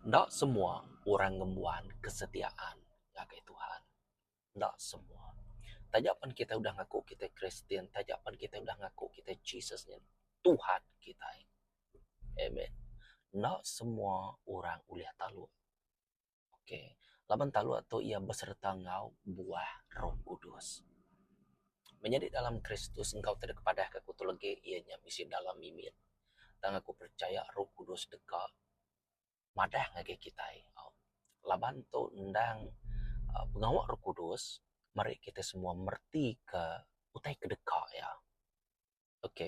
Enda semua orang ngembuan kesetiaan ngagai Tuhan. Enda semua. Taja pen kitai udah ngaku kitai Kristian, taja pen kitai udah ngaku kitai Jesus nya Tuhan kitai. Amen. Enda semua orang ulih taluk. Ok. Laban taluk tu iya besereta enggau buah Roh Kudus. Menyadi dalam Kristus enggau tedek kepadahka aku tu legi iya nya bisi dalam mimit tang aku percaya Roh Kudus deka madah ngagai kitai. Laban tu endang uhh pengawa Roh Kudus meri kitai semua mereti ke utai ke deka iya. Ok.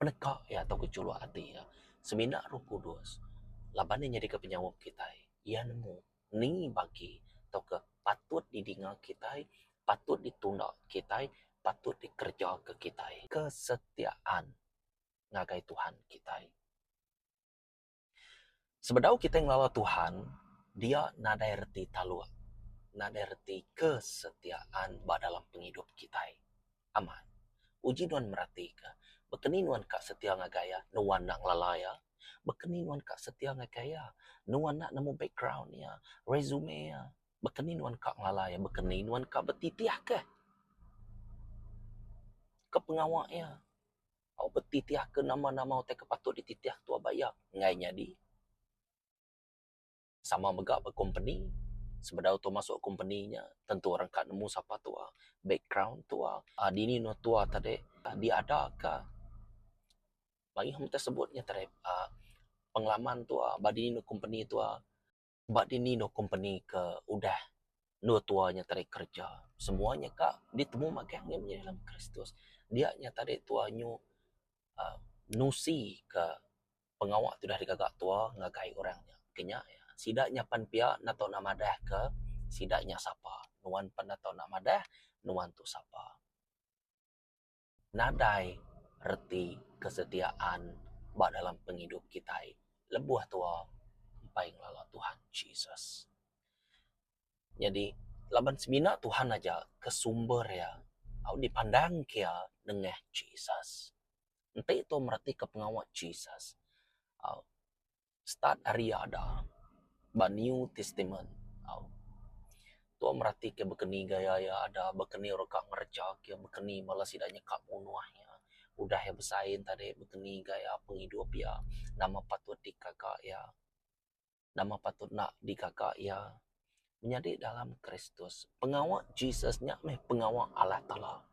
Peneka iya tauka chulok ati iya semina Roh Kudus laban iya nyadika penyaup kitai. Iya nemu ni bagi tauka patut didinga kitai, patut ditunda kitai, patut dikerejaka kitai. Kesetiaan ngagai Tuhan kitai. Sebedau kitai ngelala Tuhan, dia nadai reti taluk, nadai reti kesetiaan ba dalam pengidup kitai. Amat, uji nuan meratika, baka ni nuan ka setia ngagai iya, nuan enda ngelala iya? Baka ni nuan ka setia ngagai iya, nuan enda nemu background iya, resume iya? Baka ni nuan ka ngelala iya, baka ni nuan ka betitihka kepengawa iya? tau betitihka nama-nama utai ke patut dititih tuah bayak enggai nyadi sama mega ba kompeni sebedau tuah masuk kompeni nya tentu orang ka nemu sapa tuah background tuah aaa dini anok tuah te dek diada ka maioh sebut nya te dek aaa pengalaman tuah ba dini anok kompeni tuah. Ba dini endur kompeni ke udah endur tua nyetari kereja, semua nya ka ditemu magang nya meh dalam Kristus. Dia nya tadi tua nyu uhh nusi ke pengawa ti udah digaga tua ngagai orang nya. Ke nya iya, sida nyapan pia enda tau nak madah ke sida nya sapa. Nuan pan enda tau nak madah nuan tu sapa. nadai reti kesetiaan ba dalam pengidup kitai lebuh tuwa empai ngelala Tuhan Jesus. Nyadi laban semina Tuhan aja ke sumber iya au dipandang kia nengah Jesus. Enti tuwa meratika pengawa Jesus, start ari ada ba new testament tau tau merati ke baka ni gaya iya ada baka ni ira ka ngereja ke baka ni bala sida nyeka munuh iya udah iya besai enta dei baka ni gaya pengidup iya nama patut dikaga iya nama patut nak digaga iya nyadi dalam kristus pengawa jesus nya meh pengawa Allah taala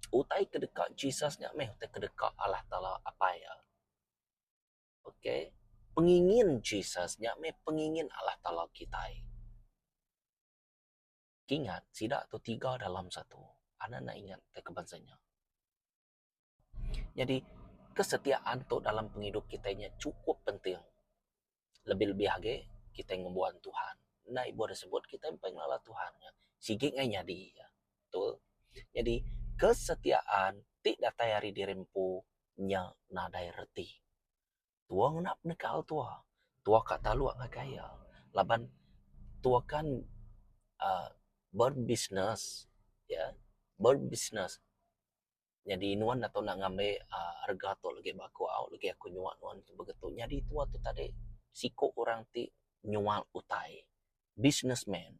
utai ke deka jesus nya meh utai ke deka Allah taala apai iya. Okay. Pengingin Jesus nya meh pengingin Allah Taala kitai. Ingat, sida tu tiga dalam satu. Anda enda ingat ke ke bansa nya? Nyadi, kesetiaan tu dalam pengidup kitai nya chukup penting. lebih lebih agi kitai ngembuan Tuhan. Enda ibuh da sebut kitai empai ngelala Tuhan nya sigi ngai nyadi iya. Betul. Nyadi kesetiaan ti datai ari diri empu nya nadai reti. Tuoh ngena penekal tuoh. Tuoh ka taluk ngagai iya laban tuoh kan uhh berbisnes. Berbisnes. Nyadi nuan enda tau enda ngambi aaa rega tu legi ba aku au legi aku nyua nuan tu begitu. Nyadi tua tu tadi siko orang ti nyual utai business man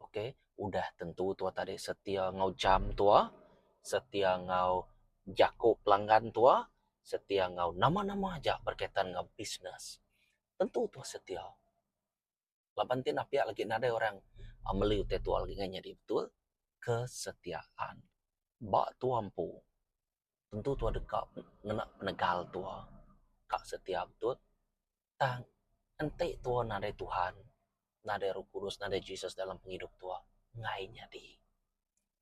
okay udah tentu tua tadi setia enggau jam tua setia enggau jako pelanggan tua setia enggau nama-nama aja berkaitan enggau business tentu tua setia. laban ti enda piak lagi nadai orang meli utai tua lagi ngan nyadi betul kesetiaan. Ba tua empu tentu tua deka ngena penegal tua ka setia betul tang enti tua nadai Tuhan nadai roh kudus nadai Jesus dalam pengidup tua enggai nyadi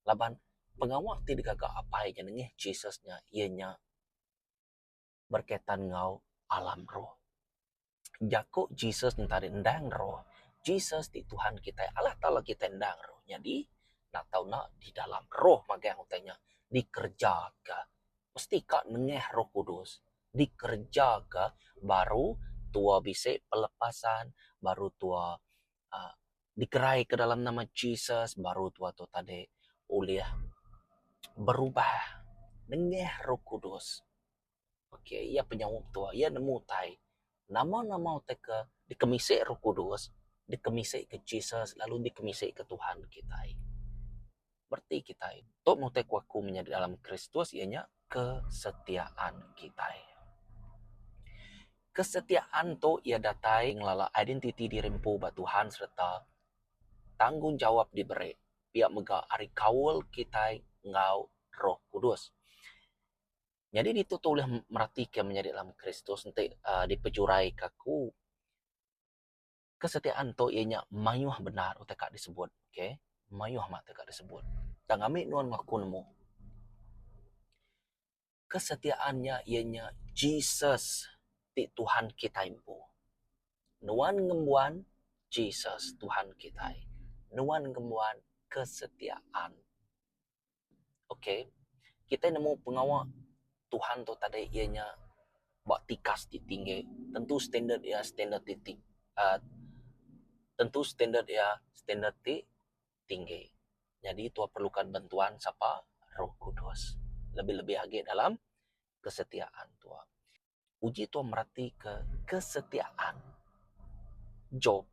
laban pengawa ti digaga apai nya nengih Jesus nya iya nya berkaitan enggau alam roh. Jaku Jesus enti ari endang roh, Jesus ti Tuhan kitai, Allah Taala kitai endang roh. Nyadi enda tau ena di dalam roh magang utai nya dikerejaka. Mesti ka nengah Roh Kudus dikerejaka baru tuo bisi pelepasan, baru tuo aaa dikerai ke dalam nama Jesus baru tua tu tadi ulih berubah nengah Roh Kudus. Ok iya penyaup tua iya nemu utai nama-nama utai ke dikemisi Roh Kudus, dikemisi ke Jesus lalu dikemisi ke Tuhan kitai. Bereti kitai tu nutai ku aku menyadi dalam Kristus iya nya kesetiaan kitai. Kesetiaan tu iya datai ngelala identiti diri empu ba Tuhan sereta tanggungjawap diberi pia mega ari kaul kitai enggau Roh Kudus. Nyadi ditu tu ulih meratika menyadi dalam Kristus enti uhh dipejuraika aku. Kesetiaan tu iya nya mayuh bendar utai ka disebut okay. Mayuh amat utai ka disebut. Tang ngambika nuan meh aku nemu kesetiaan nya iya nya Jesus ti Tuhan kitai empu. Nuan ngembuan Jesus Tuhan kitai. Nuan ngembuan kesetiaan. ok kitai nemu pengawa Tuhan tu tadai iya nya ba tikas ti tinggi tentu standard iya standard ti tinggi uhh tentu standard iya standard ti tinggi nyadi tuah perlukan bantuan sapa roh kudus lebih lebih agi dalam kesetiaan tuah. uji tau meratika kesetiaan Job.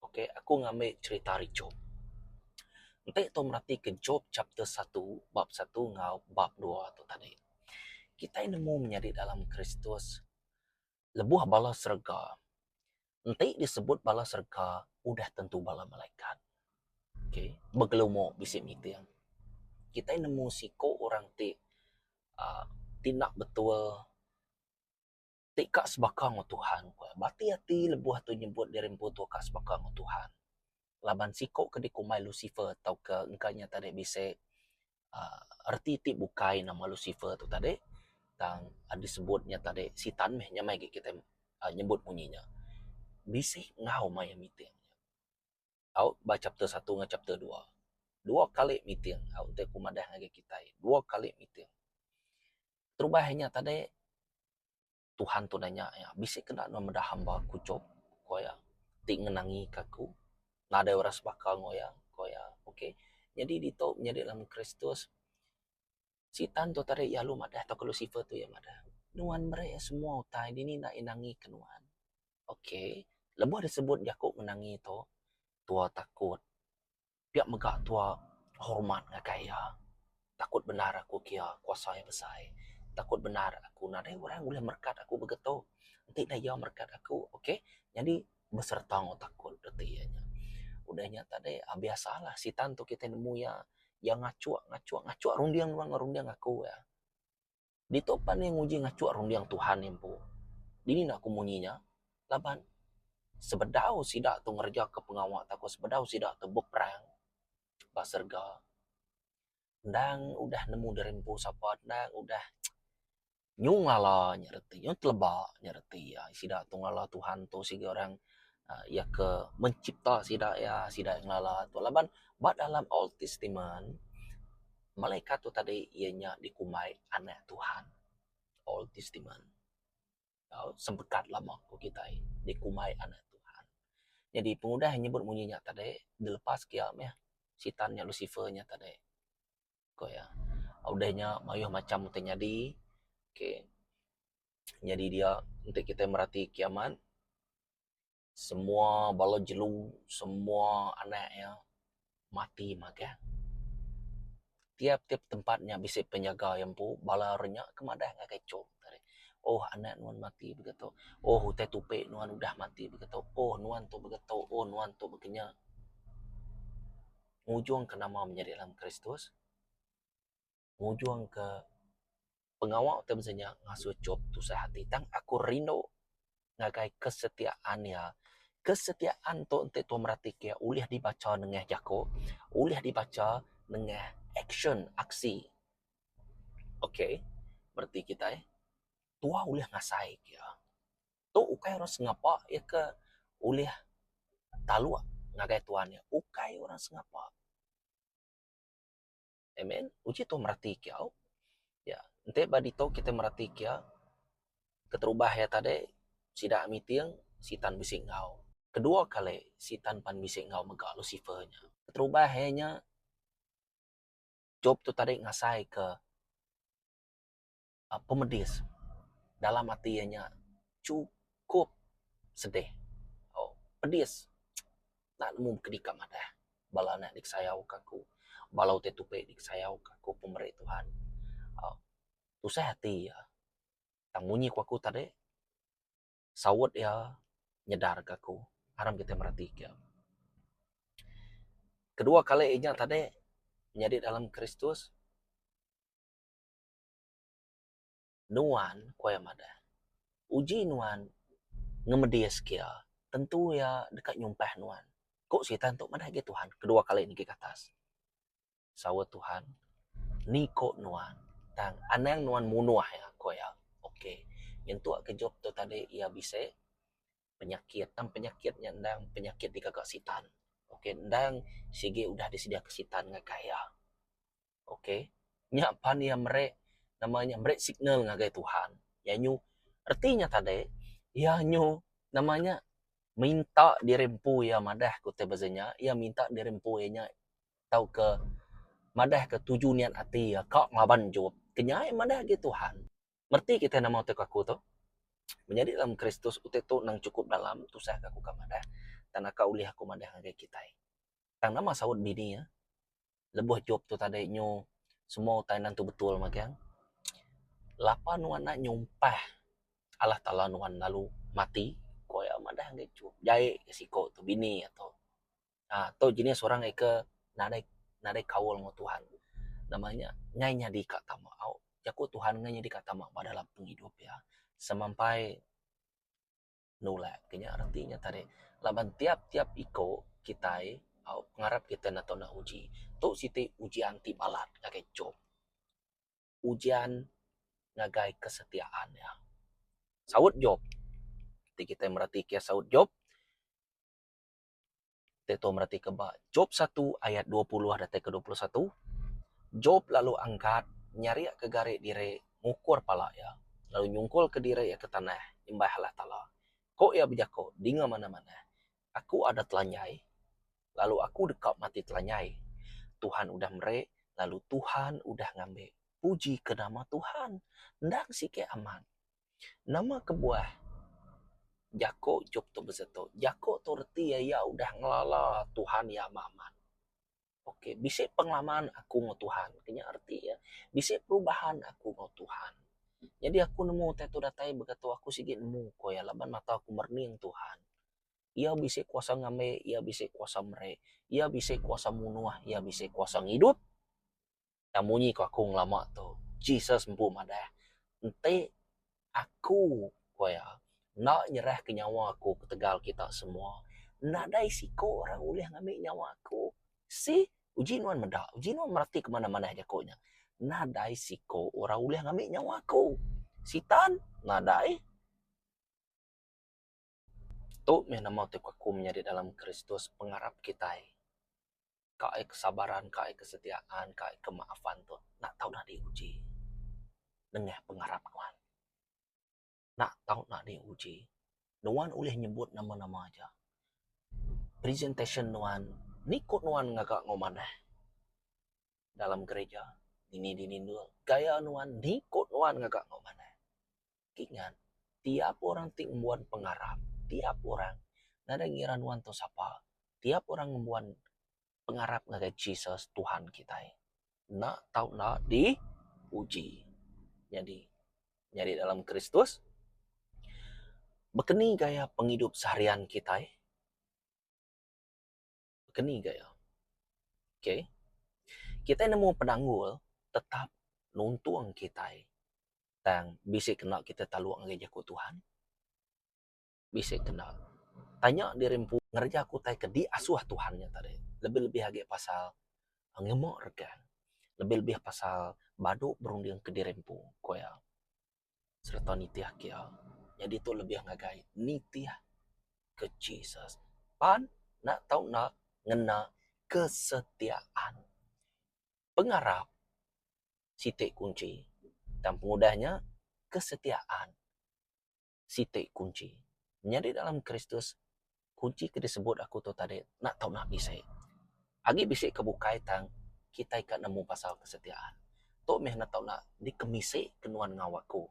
Okay, aku ngambil cerita ari Job. Enti tau meratika Job chapter satu, bab satu enggau bab dua tu tadi. Kitai nemu menyadi dalam Kristus, lebuh bala serega, enti disebut bala serega udah tentu bala malaikat. Okay, begelumu bisi miting. Kitai nemu siku orang ti uhh ti enda betul, ti ka sebaka enggau Tuhan. Bati ati lebuh tu nyebut diri empu tu ka sebaka enggau Tuhan. laban siku ke dikumbai Lucifer tauka engka nya tadi bisi aaa reti ti bukai nama Lucifer tu tadi tang disebut nya tadi sitan meh nya meh agi kitai nyebut munyi nya. Bisi enggau mayuh meeting. Tau ba chapter satu enggau chapter dua. Dua kali meeting tau enti ku madah ngagai kitai. Dua kali meeting. Terubah inya tadi. Tuhan tu nanya iya, Bisi kena nuan meda hamba aku Job? ku iya, ti ngenangika aku nadai orang sebaka enggau iya, ku iya. Okay. Nyadi ditu nyadi dalam Kristus, Sitan tu tadi lalu madah tauka Lusifer tu iya madah, Nuan meri iya semua utai, dini enda iya nangika nuan. Okay. Lebuh disebut jaku ngenangi tu, tua takut. Pia mega tua hormat ngagai iya. Takut bendar aku ke iya kuasa iya besai. Takut bendar aku nadai orang buleh merekat aku mega tu. Enti ne iya merekat aku okay nyadi besereta enggau takut reti iya nya. Udah nya tadi biasa lah sitan tu kitai nemu iya, iya ngachuk ngachuk ngachuk runding enggau runding aku. Ditu pan iya nguji ngachuk runding Tuhan empu. Dini enda aku munyi nya? Laban sebedau sida tu ngerejaka pengawa taku sebedau sida tu beperang ba serega, endang udah nemu diri empu sapa, endang udah nyu ngala nya reti, nyu teleba nya reti iya. Sida tu ngala Tuhan tu siga orang iya ke mencipta sida iya, sida ngelala tu. Laban ba dalam Old Testament, Malaikat tu tadi iya nya dikumbai Anak Tuhan. Old Testament. Tau, Sempekat Lama ku kitai dikumbai Anak Tuhan. Nyadi pengudah nyebut munyi nya tadi, dilepas ke iya meh, Sitan nya, Lusifer nya tadi, ku iya. Udah nya mayuh macham ti nyadi. Okay. Nyadi dia, enti kitai merati kiamat. Semua bala jelu, semua anak iya mati magang. Tiap-tiap tempat nya bisi penjaga iya empu, bala orang nya ke madah ngagai icuk. Ohh anak nuan mati baka tu, ohh utai tupi nuan udah mati baka tu, ohh nuan tu baka tu, ohh nuan tu baka nya. Ngujungka nama menyadi dalam Kristus. ngujungka pengawa ti bisi nya ngasuh Job tusah ati tang aku rindu ngagai kesetiaan iya. Kesetiaan tu enti Tuhan merati ke ulih dibacha nengah jaku, ulih dibacha nengah action, aksi. Okay, bereti kitai Tuhan ulih ngasai ke iya. Tu ukai orang sengapa iya ke ulih taluk ngagai Tuhan iya. Ukai orang sengapa. Amen. Uji tu merati kiau. Ya, enti ba ditu kita merati kia keterubah iya tadi sida miting sitan bisi enggau. Kedua kali sitan pan bisi enggau mega Lusifer nya. Keterubah iya nya Job tu tadi ngasai ke pemedis dalam ati iya nya chukup sedih uhh pedis enda nemu kedika madah bala anak disayau ka aku bala utai tupi disayau ka aku pemeri Tuhan uhh tusah ati iya tang munyi ku aku tadi saut iya nyedar ka aku aram kitai mereti ka kedua kali inya tadi nyadi dalam Kristus. Nuan, ku iya madah, uji nuan ngemedi iya sekia, tentu iya deka nyumpah nuan. Ku Sitan tu madah agi Tuhan kedua kali nigi ke atas. Saut Tuhan, Ni ku nuan, tang anang nuan munuh iya, ku iya. Ok. Nyentuk ke Jop tu tadi iya bisi penyakit, tang penyakit nya endang penyakit digaga Sitan. Ok, endang sigi udah disediaka Sitan ngagai iya. ok nya pan iya meri nama nya meri signal ngagai Tuhan iya nyu reti nya tadi iya nyu nama nya minta diri empu iya madah ku ti pasal nya iya minta diri empu iya nya tauka madah ka tuju niat ati iya ka ngaban juho kenyai madah agi Tuhan reti kitai nama utai aku tu menyadi dalam Kristus utai tu nang cukup dalam tusah ka aku ka madah tang naka ulih aku madah ngagai kitai tang nama saut dini iya. lebuh job tu tadi nyu semua utai enda tentu betul magang. Lapan nuan enda nyumpah Allah Taala nuan lalu mati ko iya madah enggai ku jai ke siko tu bini ato aaa tu jenis orang nggai ke nadai nadai kaul enggau Tuhan. Nama nya enggai nyadi ka tama au jaku Tuhan enggai nyadi ka tama ba dalam pengidup iya semampai nulak ke nya reti nya tadi laban tiap-tiap iko kitai au ngarap kitai nau tau uji tu siti ujian ti balat ngagai icuk ujian ngagai kesetiaan nya saut job ti kitai meratika saut job. Te tau meratika ba Job satu ayat dua puluh datai ke dua puluh satu, Job lalu angkat nyariaka gari diri ngukur pala iya, lalu nyungkulka diri iya ke tanah nyembah Allah Taala. Ko iya bejaku, Dinga manah-manah, aku ada telanjai, lalu aku deka mati telanjai. Tuhan udah meri, lalu Tuhan udah ngambi. Puji ke nama Tuhan! Endang sigi amat. Nama kebuah jako chop tu bisi tu. Jako tu reti iya yak udah ngelala Tuhan yak amat amat. Ok bisi pengelaman aku ngan Tuhan. Kena reti iya. Bisi perubahan aku ngan Tuhan. Jadi aku nemu utai tu datai mega tu aku sigi nemu ko iya laban mata aku merening Tuhan. Iya bisi kuasa ngambi, iya bisi kuasa meri, iya bisi kuasa munuh, iya bisi kuasa ngidup. Tang munyi ku aku ngelama tu, Jesus empu madah, Enti Aku, ku iya, enda nyerahka nyawa Aku ketegal kita semua, nadai siko orang ulih ngambi nyawa Aku. See? Uji nuan meda? Uji nuan mereti ke manah-manah jaku nya? Nadai siko orang ulih ngambi nyawa Aku. Sitan? Nadai. Tu meh nama ti beraku menyadi dalam Kristus pengarap kitai. Ka ai kesabaran, ka ai kesetiaan, ka ai kemaafan tu enda tau dadi uji nengah pengarap nuan. Enda tau dadi uji. Nuan ulih nyebut nama-nama aja. Presentation nuan, ni ku nuan ngaga enggau manah dalam gerija, dini-dini endur. Gaya nuan, ni ku nuan ngaga enggau manah. ti ngat tiap orang ti ngembuan pengarap tiap orang nadai ngira nuan tu sapa tiap orang ngembuan pengarap ngagai Jesus Tuhan kitai enda tau enda dipuji. Nyadi nyadi dalam Kristus bekeni gaya pengidup seharian kitai. keni ga iya. Ok. Kitai nemu penanggul tetap nuntung kitai tang bisi kena kitai taluk ngagai jaku Tuhan. Bisi kena tanya diri empu ngereja aku utai ke diasuh Tuhan nya tadi. Lebih-lebih agi pasal ngema regang. Lebih-lebih pasal badu berunding ke diri empu, ku iya. sereta nitih ake ia. Nyadi tu lebih ngagai nitih ke Jesus pan nak tau nak ngena kesetiaan. Pengarap siti kunchi tang pengudah nya kesetiaan siti kunchi. Nyadi dalam Kristus kunchi ti disebut aku tu tadi enda tau naah bisi. Agi bisi ke bukai tang kitai ka nemu pasal kesetiaan. Tu meh enda tau naah dikemisi ke nuan enggau aku.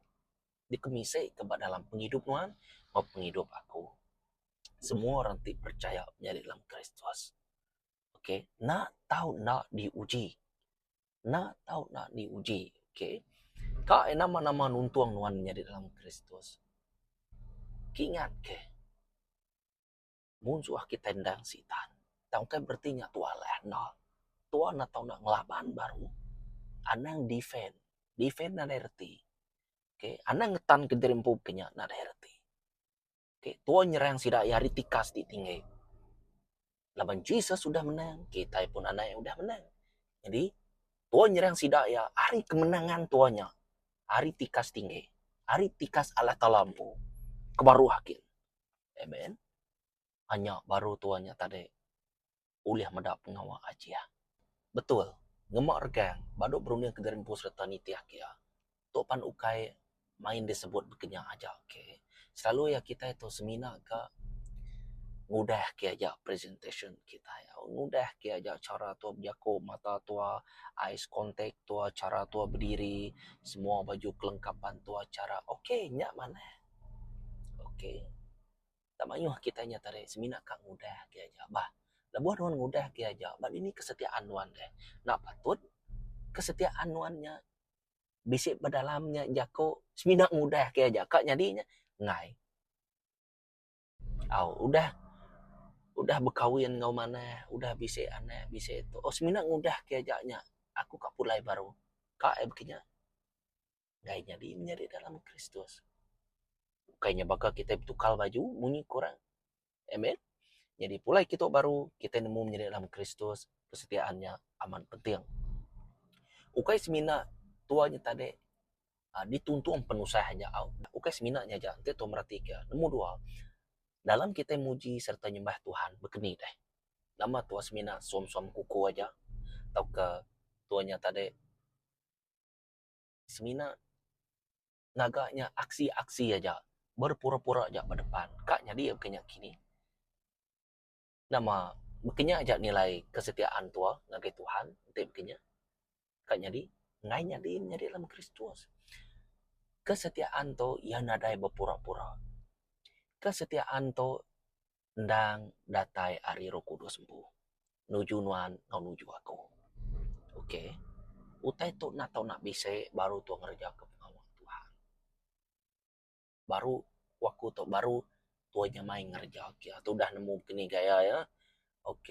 Dikemisi ke ba dalam pengidup nuan enggau pengidup aku. Semua orang ti percaya nyadi dalam Kristus. Okay, enda tau enda diuji. enda tau nak di uji. Ok. Ka eh nama nama nuntung nuan nyadi dalam Kristus. Kingat ke munsuh kita endang sitan. Tang ukai bereti nya tuah alai andal. Tuah enda tau nak ngelaban baru. Anang defend. Defend nadai reti. Ok. Anang ngetan ke diri empu ke nya nadai reti. Okay, Tuan nyerang sida iya ari tikas ti tinggi. Laban Jesus sudah menang, kita pun anak yang sudah menang. Jadi, Tuan nyerang sida iya ari kemenangan Tuan nya. Ari tikas tinggi. Ari tikas Allah Ta'ala empu. Kebaruh akin. Amen. Hanya baru Tuan nya tadi. ulih meda pengawa ajih. Betul, ngema regang ba dua berunding kediri empu sereta nitih ke. Tu pan ukai main disebut bekenya aja ke. Selalu iya kitai tu semina ke ngudah ke aja presentation kitai. Ngudah ke aja chara tua bejaku, mata tua, eyes contact tua, chara tua bediri, semua baju kelengkapan tua chara. Okay, nya manah. Okay. Enda mayuh agi tanya tadi semina ka ngudah agi aja bah. Lebuh nuan ngudah agi aja ba dini kesetiaan nuan deh. Enda patut kesetiaan nuan nya bisi ba dalam nya jaku semina ngudah agi aja ka nyadi nya enggai. Au udah udah bekawin enggau manah udah bisi anak bisi tu oh semina ngudah agi aja nya aku ka pulai baru. Ka eh beki nya. Ukai nyadi menyadi dalam Kristus. Ukai nya baka kitai betukar baju munyi ke orang. Amen. Nyadi pulai kitai tu baru, kitai nemu menyadi dalam Kristus, kesetiaan nya amat penting. Ukai semina tua nya tadi uhh dituntung penusah nya au. Ukai semina nya aja, enti tua meratika. Nombor dua, dalam kitai muji sereta nyembah Tuhan bekeni deh. Nama tua semina suam-suam kuku aja tauka tua nya tadi. Semina ngaga nya aksi-aksi aja berpura-pura aja ba depan ka nyadi baka nya kini. Nama baka nya aja nilai kesetiaan tua ngagai Tuhan enti baka nya ka nyadi. Enggai nyadi menyadi dalam Kristus. Kesetiaan tu iya nadai bepura-pura. Kesetiaan tu endang datai ari roh kudus empu nuju nuan enggau nuju aku. Ok. Utai tu enda tau nak bisi baru tau ngereja ke pengawa Tuhan. Baru ku aku tu baru tau nyamai ngereja ke iya. Tu udah nemu kini gaya iya. Ok.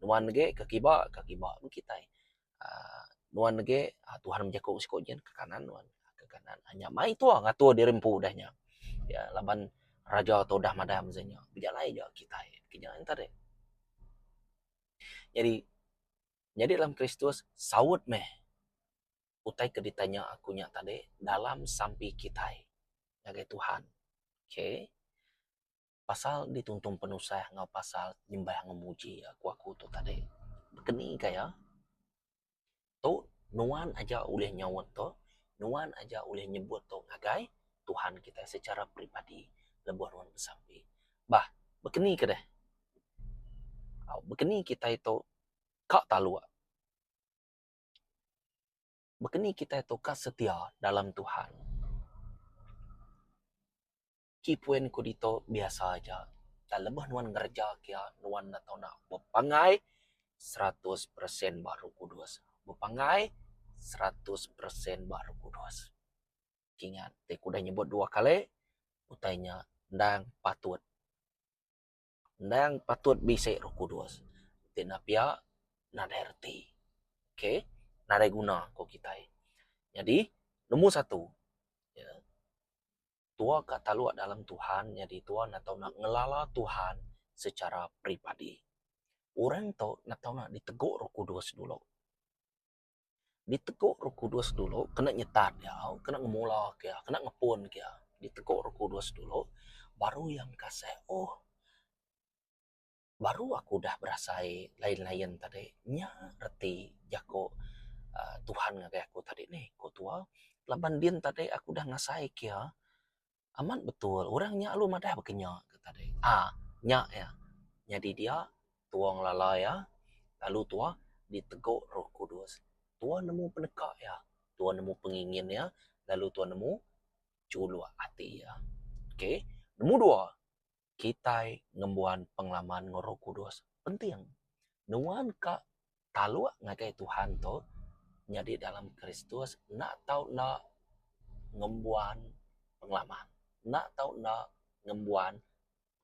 Nuan agi ke kiba, ke kiba meh kitai. aaa nuan age Tuhan bejaku ke siko nyin ke kanan nuan ke kanan nya mai tua ngatur diri empu udah nya ya laban raja tu udah madam udah nya bejalai ja kitai ke nya enta reh. Nyadi nyadi dalam kristus saut meh utai ke ditanya aku nya tadi dalam sampi kitai ngagai Tuhan. Okay. pasal dituntung penusah enggau pasal nyembah enggau muji iya ku aku tu tadi. Keni ka iya? Tu nuan aja ulih nyaut tu, nuan aja ulih nyebut tu ngagai Tuhan kitai secara peribadi lebuh nuan besampi. Bah, bekeni ke deh? Au, bekeni kitai tu ka taluk. Bekeni kitai tu ka setia dalam Tuhan. Ti poin ku ditu biasa aja tang lebuh nuan ngereja kia nuan enda tau nak bepangai seratus persen ba Roh Kudus. Bepangai seratus persen ba Roh Kudus. Ingat ti ku udah nyebut dua kali utai nya endang patut. Endang patut bisi roh kudus ti nepia nadai reti. Okay. Nadai guna ku kitai. Nyadi, nombor satu, tuo ka taluk dalem Tuhan nyadi tuo enda tau nak ngelala Tuhan secara peribadi. Orang tu enda tau nak diteguk roh kudus dulu. Ditego roh kudus dulu kena nyetat iya, kena ngemulaka iya, kena ngepunka iya. Ditego roh kudus dulu baru iya mekaseh ohh baru aku udah berasai lain-lain tadi. Nya reti jaku uhh Tuhan ngagai aku tadi nih, ku tuwa. Laban din tadi aku udah ngasaika iya. Amat betul orang nya lalu madah baka nya ke tadi. Aa nya iya. Nyadi dia tua ngelala iya lalu tua diteguk roh kudus. Tua nemu peneka iya, tua nemu pengingin iya lalu tua nemu chuluk ati iya. Okey. Nombor dua. kitai ngembuan pengalaman enggau Roh Kudus penting nuan ka taluk ngagai Tuhan tu nyadi dalam Kristus enda tau enda ngembuan pengalaman enda tau enda ngembuan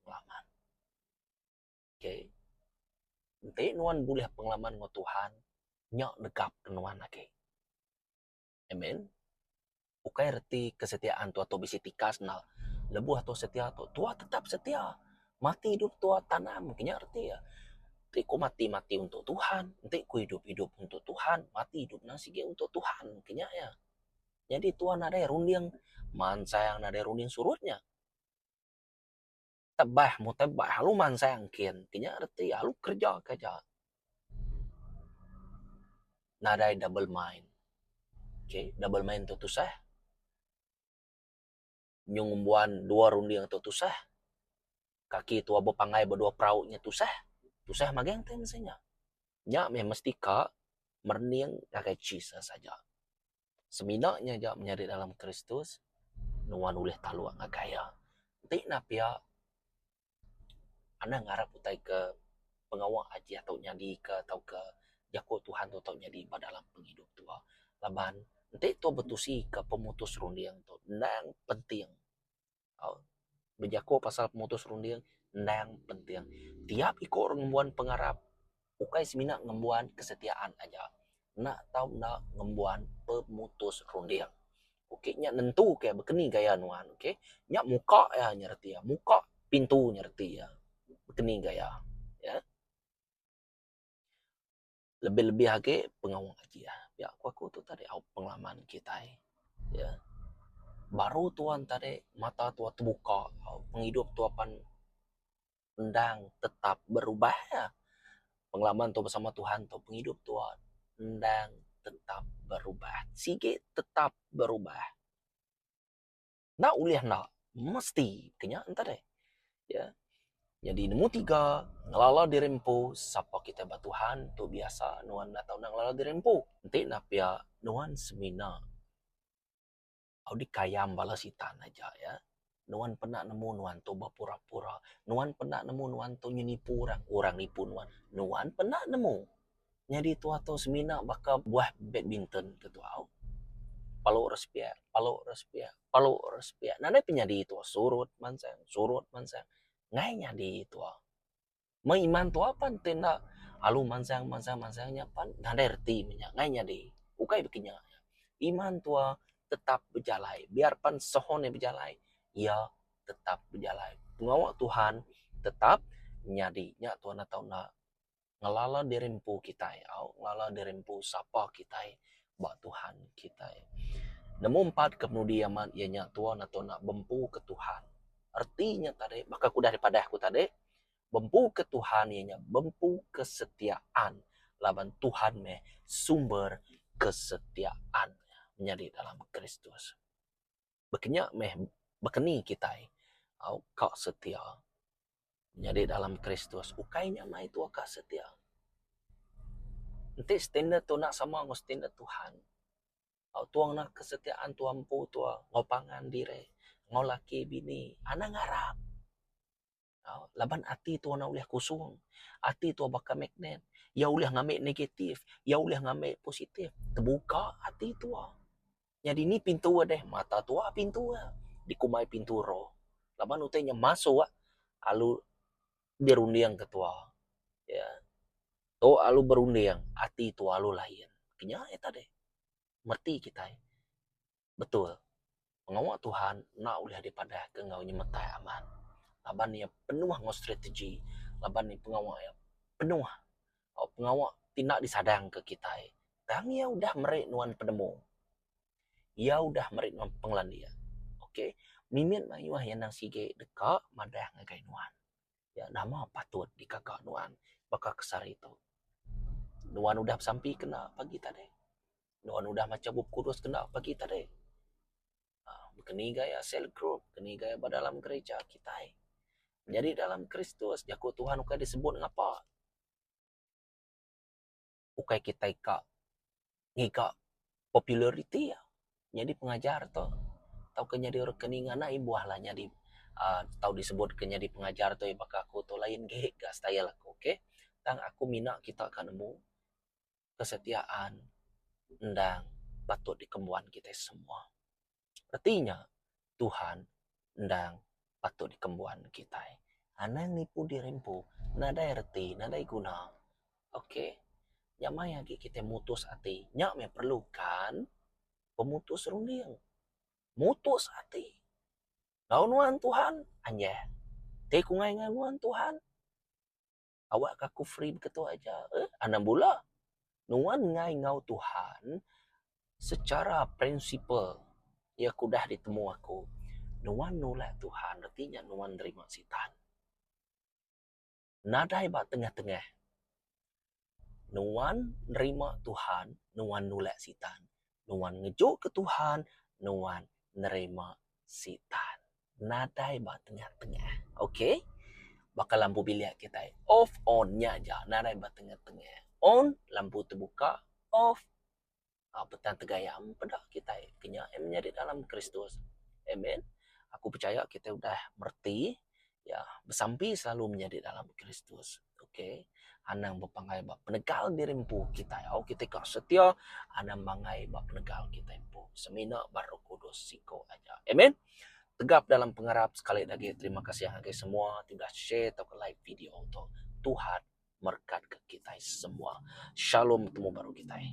pengalaman. Ok enti nuan bulih pengalaman enggau Tuhan nya negapka nuan agi. Amen. Ukai reti kesetiaan tu ato bisi tikas enda. Lebuh ato setia tu, tuah tetap setia. Mati idup tuah tanam ke nya reti iya. Enti ku mati, mati untuk Tuhan. Enti ku idup, idup untuk Tuhan. Mati idup nya sigi untuk Tuhan ke nya iya. Nyadi tuah nadai runding mansang nadai runding surut nya. Tebah mu tebah alu mansang engkin ti nya reti alu kerja ke aja nadai double mind okay double mind tu tusah nyung ngembuan dua runding tu tusah kaki tua bepanggai ba dua perau nya tusah tusah magang ti mesti nya. Nya meh mesti ka merunding ngagai Jesus aja. Semina nya aja menyadi dalam Kristus, nuan ulih taluk ngagai Iya. Enti enda pia, anang ngarap utai ke pengawa aji ato nyadi ke tauka jaku Tuhan tu tau nyadi ba dalam pengidup tua. Laban enti tua betusi ke pemutus runding tu endang penting. Bejaku pasal pemutus runding endang penting. Tiap iku orang ngembuan pengarap ukai semina ngembuan kesetiaan aja. Enda tau enda ngembuan pemutus runding. Ok nya nentu ke baka ni gaya nuan ok. Nya muka iya nya reti iya. Muka pintu nya reti iya. Baka ni gaya. lebih-lebih agi pengawa kiye ya ku aku tu tadi au pengaman kitai ye baru tuan tadi mata tuan tebuka pengidup tuan apan endang tetap berubah ya pengaman tuan bersama Tuhan tu pengidup tuan endang tetap berubah sigi tetap berubah. Enda ulih enda. Mesti ke nya enta deh. Ya. Nyadi nombor tiga, ngelala diri empu. Sapa kitai ba Tuhan tu biasa nuan enda tau nak ngelala diri empu. Enti enda pia, nuan semina au dikayam bala Sitan aja. Ya. Nuan penda nemu nuan tu bepura-pura. Nuan penda nemu nuan tu nyenipu orang, orang nipu nuan. Nuan penda nemu. Nyadi tua tu semina baka buah badminton ke tuau. Palu ra sepiak, palu ra sepiak, palu ra sepiak. Nadai pun nyadi tua surut mansang, surut mansang. Enggai nyadi tua. Meh iman tua pan ti enda alu mansang mansang mansang nya pan nadai reti meh nya. Enggai nyadi. Ukai baka nya. Iman tua tetap bejalai. Biar pan sehun iya bejalai, iya tetap bejalai. Pengawa Tuhan tetap nyadi. Nya tua nata enda. ngelala diri empu kitai au ngelala diri empu sapa kitai ba Tuhan kitai. Nemu empat ke penudi amat iya nya tuan ato enda bempu ke Tuhan. Reti nya tadi baka ku udah dipadah ku tadi bempu ke Tuhan iya nya bempu kesetiaan laban Tuhan meh sumber kesetiaan menyadi dalam Kristus. baka nya meh bakani kitai au ka setia nyadi dalam Kristus ukai nya mai tuah ka setia. Enti standard tu enda sama enggau standard Tuhan, au tuah ngena kesetiaan tuah empu tuah enggau pangan diri, enggau laki bini, anang ngarap. tau laban ati tua na ulih kusung ati tua baka magnet ia ulih ngambi negatif ia ulih ngambi positif tebuka ati tua nyadi ni pintu deh mata tua pintu ia dikumbai pintu roh laban utai nya masuk alu dirunding ke tua ia tu alu berunding ati tua alu lain kenyah ia tadi meti kitai Betul, pengawa Tuhan enda ulih dipadahka enggau nyemetai amat laban iya penuh enggau strategi laban iya pengawa iya penuh tau pengawa ti enda disadangka kitai. Tang iya udah meri nuan penemu. Iya udah meri nuan pengelandik. Okay, mimit mayuh iya nang sigi deka madah ngagai nuan. nya nama patut dikaga nuan baka kesari tu. Nuan udah besampi kena pagi tadi. Nuan udah macha Bup Kudus kena pagi tadi. aaa Bekeni gaya sel group, bekeni gaya ba dalam gerija kitai. Nyadi dalam Kristus, jaku Tuhan ukai disebut ngapa. ukai kitai ka ngiga populariti iya nyadi pengajar tu tauka nyadi orang ke ninga nai buah lah nyadi aaa tau disebut ke nyadi pengajar tu baka aku tu lain gek ga style aku okay. Tang aku mina kita ka nemu kesetiaan endang patut dikembuan kitai semua. Reti nya, Tuhan endang patut dikembuan kitai. Anang nipu diri empu nadai reti, nadai guna. Ok. Nya maya agi kitai mutus ati. Nya meh perlukan pemutus runding. Mutus ati. Tau nuan Tuhan, anjah. Ti ku ngai ngan nuan Tuhan. awak ka aku free beketuak aja eh anang bula nuan ngai enggau Tuhan secara principle iya ke udah ditemu aku nuan nulak Tuhan reti nya nuan nerima Sitan. Nadai ba tengah tengah nuan nerima Tuhan nuan nulak Sitan nuan ngejuka Tuhan, nuan nerima Sitan. Nadai ba tengah-tengah. Ok. Baka lampu bilik kitai. Off, on. Nya aja. Nadai ba tengah-tengah. On, lampu tebuka. Off, a petan tegaya. Peda kitai ke nya. Nya nyadi dalam Kristus. Amen. Aku pechaya kitai udah mereti iya besampi selalu menyadi dalam Kristus. Ok, anang bepanggai ba penegal diri empu kitai. Au kitai ka setia anang mangai ba penegal kitai empu semina ba Roh Kudus siko aja. Amen. Tegap dalam pengarap sekali agi terima kasih ngagai semua ti udah share tauka like video tu. Tuhan merekatka kitai semua. Shalom temu baru kitai.